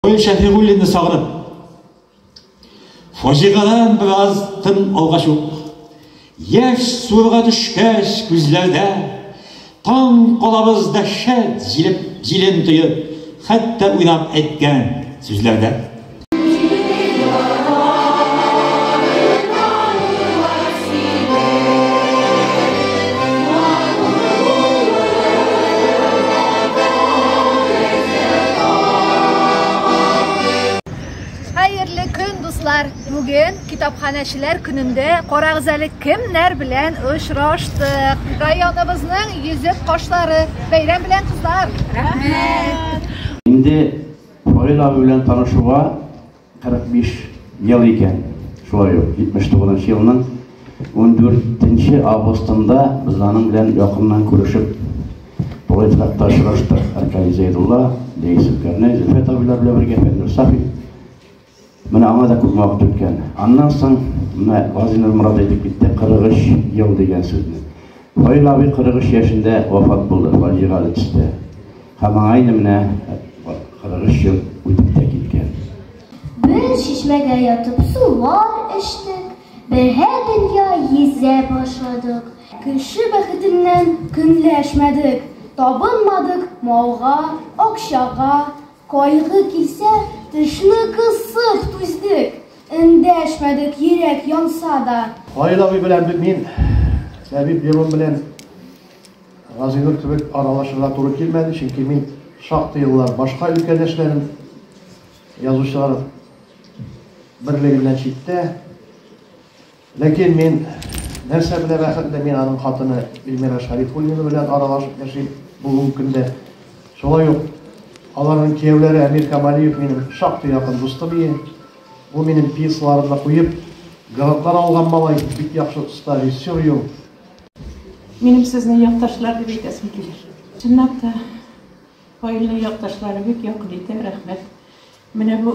Гафури Шәфигуллинны сагынып, фаҗигадан бераз тын алгач ук, яшь суырга төшкәч күзләрдә, таң калабыз дәһшәт җилеп, җилен тоеп, хәтта уйнап әйткән сүзләрдә. бүген китапханәчеләр көнендә карагыз әле кемнәр белән очраштык. Районыбызның йөзек кошлары. Бәйрәм белән кызлар. Рәхмәт. Инде Фаил абый белән танышуга 45 ел икән, шулай ук 79 елның 14 августында без аның белән якыннан күрешеп, поэт хакта очраштык. Аркадий Зәйдулла, Лея Сөлкәрне, Зөлфәт абыйлар белән бергә Фәннур Сафи. Менә аңа да күп вакыт үткән. Аннан соң менә Газинур Мурат әйтеп китте 43 ел дигән сүзне. Фаил абый 43 яшендә вафат булды фаҗигале төстә. Һәм аңа инде менә 43 ел үтеп тә киткән. Бер чишмәгә ятып сулар эчтек, берһә дөнья йөзә башладык. Кеше бәхетеннән көнләшмәдек, табынмадык малга, акчага, Кайгы килсә, тешне кысып түздек. Эндәшмәдек, йөрәк янса да. Фаил абый белән бит мин Ләбиб Левон белән Газинур кебек аралашырга туры килмәде, чөнки мин шактый еллар башка өлкәдә эшләдем. Язучылар берлегеннән читтә. Ләкин мин нәрсә белән бәхетле, мин аның хатыны Эльмира Шарифуллина белән аралашып яшим бүгенге көндә. Шулай ук аларның кияүләре Әмир Камалиев минем шактый якын дустым ие. Ул минем пьесаларны да куеп, грантлар алган малай, бик яхшы оста режиссер ю. Минем сезне якташлар дип әйтәсем килә. Чынлап та, Фаилнең якташлары бик якын итә, рәхмәт. Менә бу.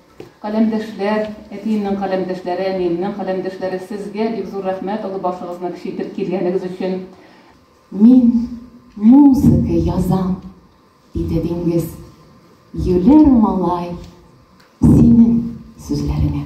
Каләмдәшләр, әтиемнең каләмдәшләре, әниемнең каләмдәшләре, сезгә бик зур рәхмәт олы башыгызны кечейтеп килгәнегез өчен. Мин музыка язам, диде Диңгез. Юләр малай, синең сүзләреңә.